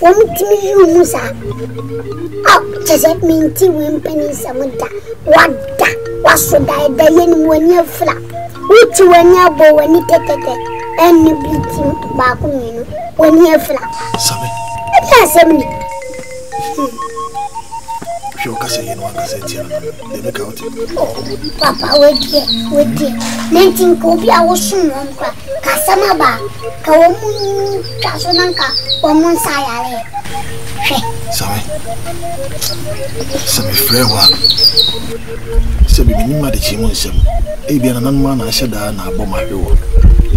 Wɔn tumi yiri mu saa. A kyɛ sɛ menti wo mpanin nsɛm da. Wada, waso da ɛda yɛ ne mu ani afira. Woti w'ani abɔ w'ani tɛtɛtɛ. Ɛnne bi ti baako mmienu w'ani afira. Sami. Ɛdi asɛm ni. Hwɛ ɔkasa yɛ no ankasa tia no. deɛ meka wote papa wadiɛ wadiɛ na nti nka obi a wosom wɔn kora ka asɛm aba ka wɔn mu twa so na nka wɔn mu nsa ayare hwɛ same sɛ mefrɛ hɔ a sɛ bibini ma de kye mu nsɛm ebia nananom a na ahyɛ daa na abɔ ma ahwe wɔ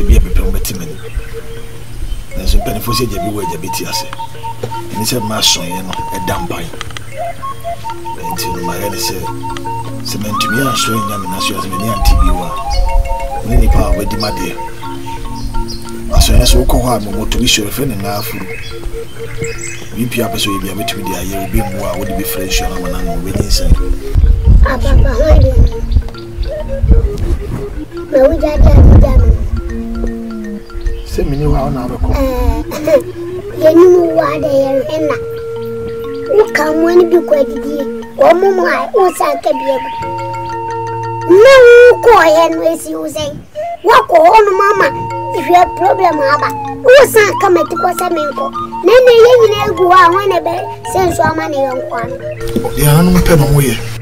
ebia bepɛ ho bɛte m'ani nanso mpanimfoɔ sɛ agya bi wɔ agya bɛti ase ɛne sɛ mma asɔeɛ no ɛda mpan nti no mayɛ ne sɛ sɛ mantumi ansɔre annya me naso ase m'ani ante bio a ne nipa a wadi madeɛ asɔre so wokɔ hɔ a mɔmɔto bi sɔre fɛ ne ngaa afuru biribi a pɛ sɛ ɔyɛ bi a bɛtumi de ayɛ obi mmoa a wode bɛfira nsuo no ama no ano wobɛnyinsɛn na wogya de ade gya me sɛ mene wo a wona wobɛkɔ yɛnim wo a dɛ yɛnhwɛ na woka mmoa no bi kɔ adidie wɔmo mu a wosa ka bi agu na wokɔɔyɛ no asi wo sɛn woakɔ hɔ nom ama hwɛ problem aba wosan ka mati kɔ sɛ menkɔ na ɛnɛ yɛ nyina agu hɔ a hɔ na ɛbɛ sɛ nso ama ne yɔnkoa no yɛanom pɛ na ɔmoyɛ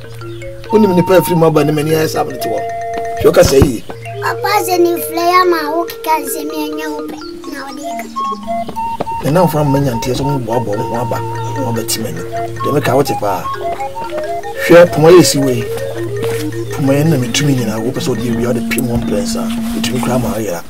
wonim nipa afiri mu aba ne m'ani ayɛ saa mene te hɔ hwɛ woka sɛ yie papa sɛ ne mfrɛ yɛ ama wo keka nsɛm ɛnyɛ wo pɛ na wode ka ne namfo ama manya nteɛ sɛ moboaboa mo ho aba na wabɛte m'ani deɛ meka wote paa hwɛ poma yɛ si wei poma yɛ na metumi nyinaa wopɛ sɛ wode awia wode pem wɔ mprɛnsa wotumi koraa ma ayera